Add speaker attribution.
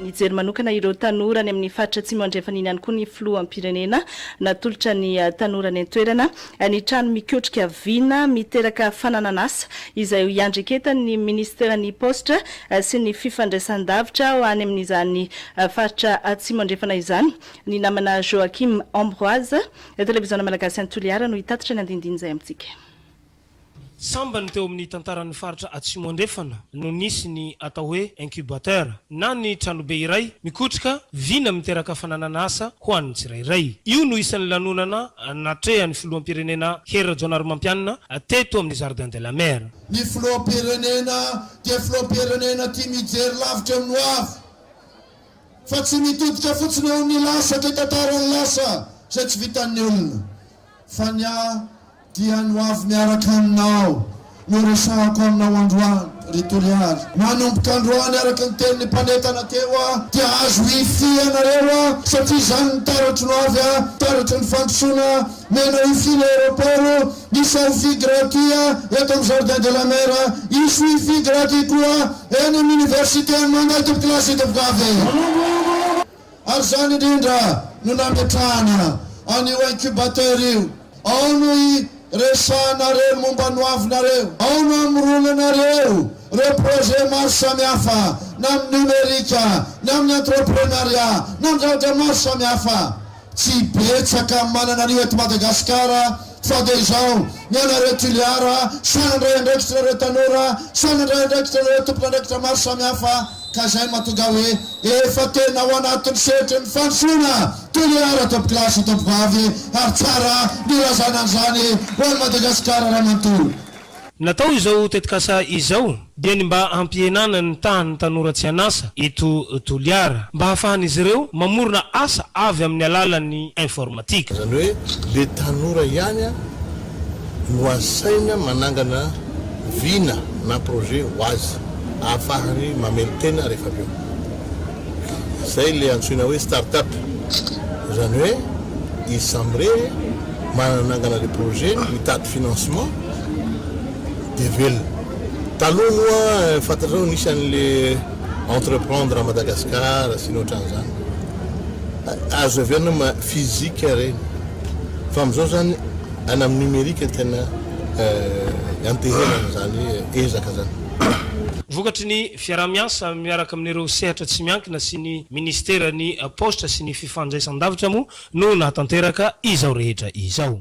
Speaker 1: Nijery manokana ireo tanora any amin'ny faritra Atsimo Andrefana iny ihany koa ny Filoham-pirenena. Natolotra ny tanora any an-toerana ny trano mikotrika vina miteraka fananan'asa izay ho iandreketan'ny minisiteran'ny Paositra sy ny fifandraisan-davitra ho any amin'izany faritra Atsimo Andrefana izany. Ny namana Joachim Ambroise, Televiziona Malagasy any Toliara no hitatitra ny andinindiny izay amintsika.
Speaker 2: Sambany teo amin'ny tantaran'ny faritra Atsimo Andrefana no nisy ny atao hoe incubateur na ny tranobe iray mikotrika vina miteraka fananana asa ho an'ny tsirairay. Io no isan'ny lanonana natrehan'ny filoham-pirenena Hery Rajaonarimampianina teto amin'ny Jardin de la Mer. Ny filoham-pirenena
Speaker 3: dia filoham-pirenena tia mijery lavitra amin'ny hoavy. fa tsy mitodika fotsiny eo amin'ny lasa dia tantara ny lasa izay tsy vitan'ny olona fa ny ahy dia ny ho avy miaraka aminao no resahako aminao androany ry Toliary manomboka androany araka ny tenin'ny mpanetana teo aho dia azo wifi ianareo aho satria izany ny taratro no avy aho taratry ny fandrosoana nenao hifiana aeroport Ny Selfie Gratia eto amin'ny Jardin de la Mer, i Suify Gratia koa eny amin'ny Université-n'i Mangay Tompokolaso eto Vokave. Ary izany indrindra no nametrahana an'io incubateur io, ao no hiresahanareo ny momba ny ho avinareo, ao no hamoronanareo ireo projet maro samihafa na amin'ny numérique, na amin'ny entreprenariat, na amin'ny zavatra maro samihafa. Tsy betsaka manana an'io eto Madagasikara fa dia izao, ny anareo Toliara, sahy nandray andraikitra nareo tanora, sahy nandray andraikitra nareo tompon'andraikitra maro samihafa ka izay no mahatonga hoe efa tena ao anatin'ny sehatry ny fandrosoana Toliara tomponklasy sy tompovavy ary tsara ny hilazana an'izany ho an'i Madagasikara raha manontolo. Natao izao
Speaker 2: tetikasa izao dia ny mba hampihenana ny tahan'ny tanora tsy an'asa eto Toliara, mba hahafahan'izy ireo mamorona asa avy amin'ny alalan'ny informatika. Izany hoe le
Speaker 4: tanora ihany no asaina manangana vina na projet ho azy, ahafahany mamelon-tena rehefa avy eo. Izay ilay antsoina hoe start-up. Izany hoe izy samy irery manana nangana ilay projet-ny, mitady financement dia velona. Taloha moa fantatrao nisy an'ilay Entreprendre à Madagascar sy ny ohatran'izany. Azo heverina ma physique ireny. Fa amin'izao izany any amin'ny numérique no tena ianteherana izany ezaka izany. Vokatry
Speaker 2: ny Fiaraha-miasa miaraka amin'ireo sehatra tsy miankina sy ny Minisiteran'ny Paositra sy ny Fifandraisan-davitra moa no nahatanteraka izao rehetra izao.